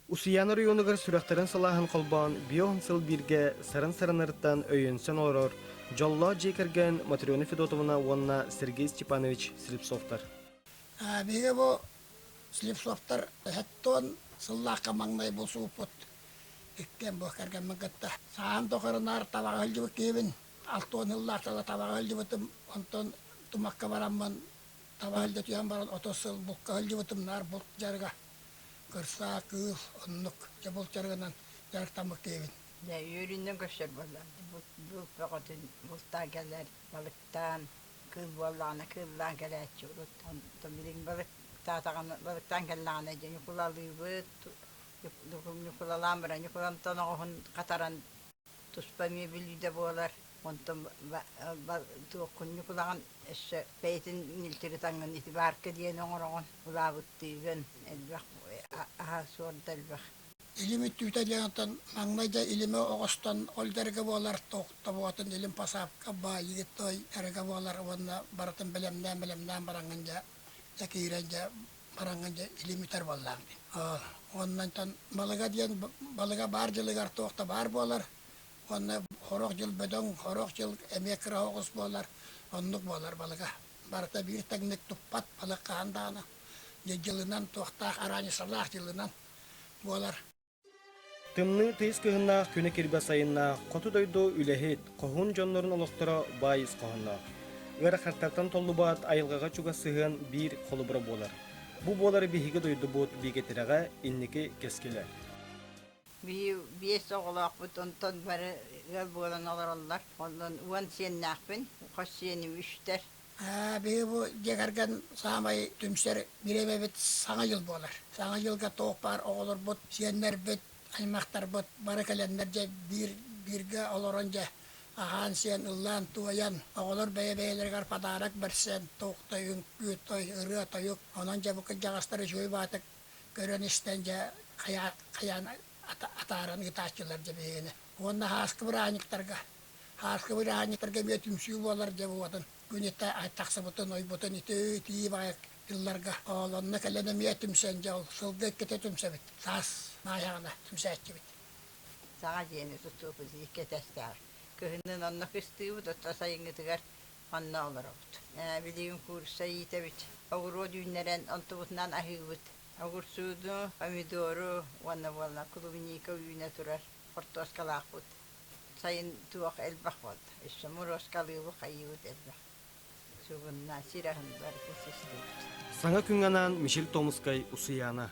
Усуйаан оройуонугар сүрэхтэрин салааһын холбоон бион сыл бииргэ сарын саранарыттан өйөнсөн олорор дьоллоох дьиэ кэргэн Матрена Федотовна уонна Сергей Степанович Слепцовтар. Биһиги бу Слепцовтар эһэттон сыллаахха маҥнай бусууппут иккиэн бу кэргэммин кытта саан тоқырынаар табаҕа өлдүбүт киһибин алтон сыллаахтарда табаҕа өлдүбүтүм онтон тумакка бараммын таба өлдөтүөн баран оту сыл булка өлдүбүтүм наар булт жарга Кырсаа кыыс оннук дьэ булчарыгынан дьарыктаммыт киһибин. Дьэ үөрүнэн көрсөр буоллар булт бөҕөтүн бултаан кэлэр балыктаан кыыс буоллаҕына кыыллаан кэлээччи урууттан билигин балыктаатаҕына балыктаан кэллэҕинэ дьэ ньукулалыыбыт ньукулалаан баран ньукулантан оҕуһун хатаран туспа мебелүүдэ буолар онтон туоххунньук улахан өссө бэйэтин ньилтири таҥын ити баарка диэн оҥороҕун улаабыттыыгын элбэх аһа суорда элбэх илим өттүүтэ диэн оттон маҥнай да илими оҕостон ол дэргэ буолар тобоҕотун илим посадка баайыгыт той эргэ буолар уонна барытын бэлэмнээн бэлэмнээн бараҥҥын дьэ дьэ киирэн дьэ Хараҥа дьэ илимитэр буоллаах дии. Оннантан балыга диэн балыга баар дьылыгар туох да баар буолар. Уонна хорох дьыл бөдөҥ, хорох дьыл эмиэ кыра оҕус буолар. Оннук буолар балыга. Барыта биир тэҥник туппат балык хаһан даҕаны. Дьэ дьылынан туохтаах араанньысалаах дьылынан буолар. Тымныы тыйыс кыһыннаах күнү кирбэ сайыннаах хоту дойду үлэһит, хоһун дьоннорун олохторо баайыс хоһоноох. Ыарахаттартан толлубат айылҕаҕа чугас сыһыан биир холобура буолар. Бу буолар биһиги дойдубут биигэтирэҕэ инники кэскилэ. Биир биэс оҕолоохпут онтон бары ыал буолан олороллор. Онон уон сиэннээхпин, хос сиэним үстэр. биһи бу дьиэ кэргэн саамай түмсэр бириэмэбит Саҥа дьыл буолар. Саҥа дьылга туох баар оҕолорбут, сиэннэрбит, аймахтарбыт бары кэлэннэр дьэ биир бииргэ олорон дьэ аһаан-сиэн, ыллаан-туойан, оҕолор бэйэ-бэйэлэригэр подарок бэрсэн, туохтай үҥкүү, той, ырыа, тойук, онон дьэ бу кырдьаҕастар үчүгэй-баатык көрөн-истэн дьэ хайаан атааран ыытааччылар дьэ биһигини. Уонна һааскы бырааһынньыктарга Хааска бырааһынньыктарга эмиэ түмсүү буолар диэн уотун күнүтэ тахсыбытын, ойбутун итии-итии баҕай тылларга оолонно кэлэн эмиэ түмсэн дьэ ол сылга иккитэ түмсэбит. Саас маайаҕына түмсээччибит. Саҕа дьиэни тутуубут икки этээстээх. Кыһыннын онно кыстыыбыт, оттон сайыҥҥытыгар онно олоробут. Билигин курса иитэбит. Огуруот үүннэрэн онтубутунан аһыыбыт. Огурсууну, помидору уонна буоллар клубника үүнэ турар хортуоскалаахпыт. Сайын туох элбэх буолда. Өссө муруоскалыыбыт, хайыыбыт элбэх. Сугунна, сир аһын барыта систибит. Саҥа күҥ анаан Мишель Томскай Усуйаана